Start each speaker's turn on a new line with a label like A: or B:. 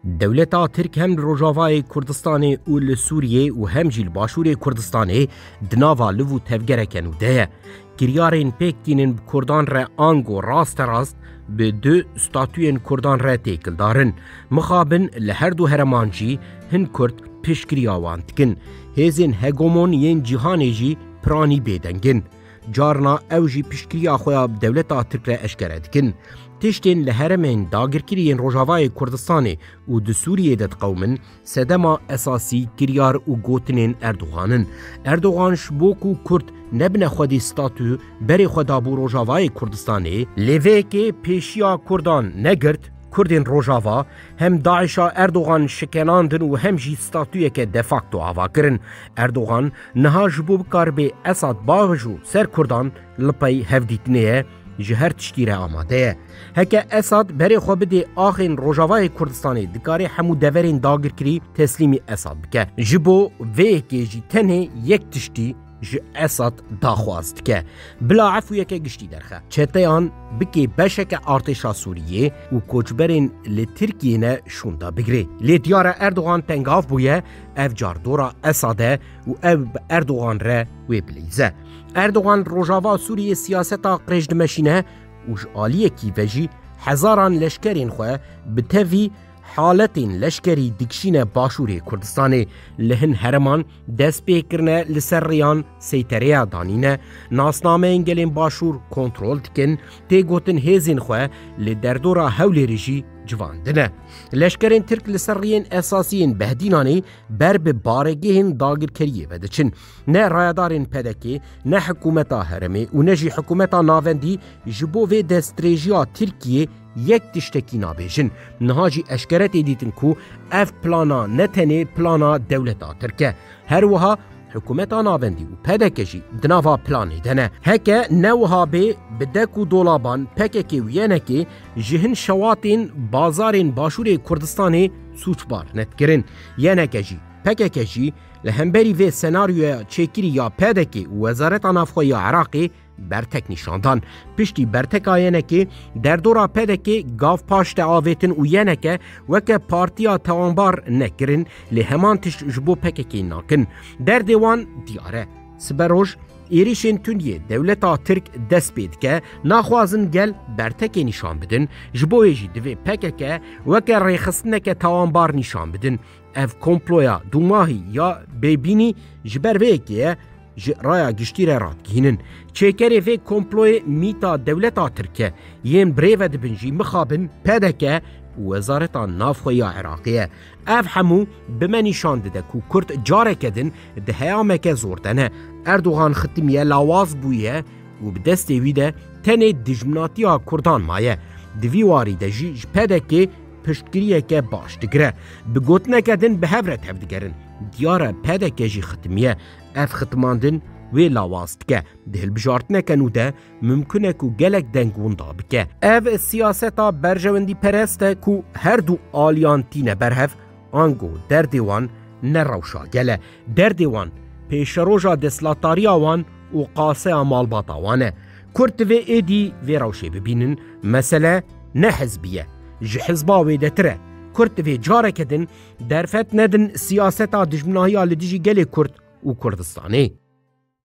A: Dewleta Tirk hem li Rojavayê Kurdistanê û li Sûriyê û hem jî li Başûrê Kurdistanê di nava liv û tevgereke nû de ye. Kiryarên pêk tînin bi Kurdan re ango rasterast bi du statuyên Kurdan re têkil darin. Mixabin li her du hereman jî hin Kurd piştgiriya wan dikin. Hêzên hegemon yên cîhanê jî piranî bêdeng in. Carna ew jî piştgiriya xwe ya bi dewleta Tirk re eşkere dikin. Tiştên li heremên dagirkirî yên Rojavayê Kurdistanê û di Sûriyê de diqewimin, sedema esasî kiryar û gotinên Erdogan in. Erdogan ji bo ku Kurd nebine xwedî statû berê xwe dabû Rojavayê Kurdistanê, lê vê yekê pêşiya Kurdan negirt, Kurdên Rojava hem DAIŞ'a Erdogan şikenandin û hem jî statûyeke de facto ava kirin. Erdogan Niha ji bo bikaribe Esad bavij û ser Kurdan li pey hevdîtinê ye ji her tiştî re amade ye. Heke Esad berê xwe bidê axên Rojavayê Kurdistanê dikarê hemû deverên dagirkirî teslîmî Esad bike. Ji bo vê yekê jî tenê yek tiştî ji Esad daxwaz dike. Bila efûyeke giştî derxe. Çeteyan bikê beşeke artêşa Sûriyê û koçberên li Tirkiyê ne şûnda bigirê. Lê diyar e Erdogan tengav bûye Ev car dora Esad e û ew bi Erdogan re wê bileyze. Erdogan rojava Sûriyê siyaseta qirêj dimeşîne û ji aliyekî ve jî hezaran leşkerên xwe bi tevî haletên leşkerî dikişîne başûrê Kurdistanê. Li hin hereman dest pê kirine li ser rêyan seytereya danîne, nasnameyên gelên başûr kontrol dikin, tê gotin hêzên xwe li derdora Hewlêrê jî civandine. Leşkerên Tirk li ser riyên esasî yên Behdînanê ber bi baregehên dagirkeriyê ve diçin. Ne rayedarên PDKê, ne hikûmeta heremê û ne jî hikûmeta navendî ji bo vê destdirêjiya Tirkiyê yek tiştekî nabêjin. Niha jî eşkere tê dîtin ku ev plana ne tenê plana dewleta Tirk e. Her wiha Hikûmeta navendî û PDK jî di nava planê de ne. Heke ne wiha bê bi dek û dolaban PKK û YNKê ji hin şewatên bazarên Başûrê Kurdistanê sûcbar ne dikirin. YNK jî, PKK jî li hemberî vê senaryoya çêkirî ya PDK û Wezareta Navxwe ya Iraqê Bertek nîşan dan. Piştî berteka yenekê derdora pedekê gav paş te avêtin û yeneke weke partiya tewanbar nekirin lê heman tişt ji bo pekekê nakin. Derdê wan diyar e. Sibe roj êrîşên tundiyê dewleta Tirk dest pê dike, naxwazin gel bertekê nîşan bidin, ji bo wê jî divê pekeke weke rêxistineke tewanbar nîşan bidin. Ev komploya dûmahî ya bêbînî ji ber vê yekê ye ji raya giştî re radgihînin. Çêkerê vê komployê mîta dewleta Tirk e. Yên birê ve dibin jî mixabin pdk û wezareta navxwe ya Iraqê ye. Ev hemû bi me nîşan dide ku Kurd careke din di heyameke zor de ne. Erdogan xitimiye lawaz bûye û bi destê wî de tenê dijminatiya Kurdan maye. Di vî warî de jî ji pdk piştgiriyeke baş digire. Bi gotineke din bi hev re tevdigerin. Diyar e PDK jî xitimiye. Ev xitimandin wê lawaz dike. Di hilbijartineke nû de mimkun e ku gelek deng winda bike. Ev siyaseta berjewendîperest e ku her du aliyan tîne ber hev, ango derdê wan ne rewşa gel e. Derdê wan pêşeroja destlatariya wan û qaseya malbata wan e. Kurd divê êdî vê rewşê bibînin, mesele ne hizbî ye, ji hizba wêdetir e. Kurd divê careke din derfet nedin siyaseta dijminahiya li dijî gelê Kurd û Kurdistanê.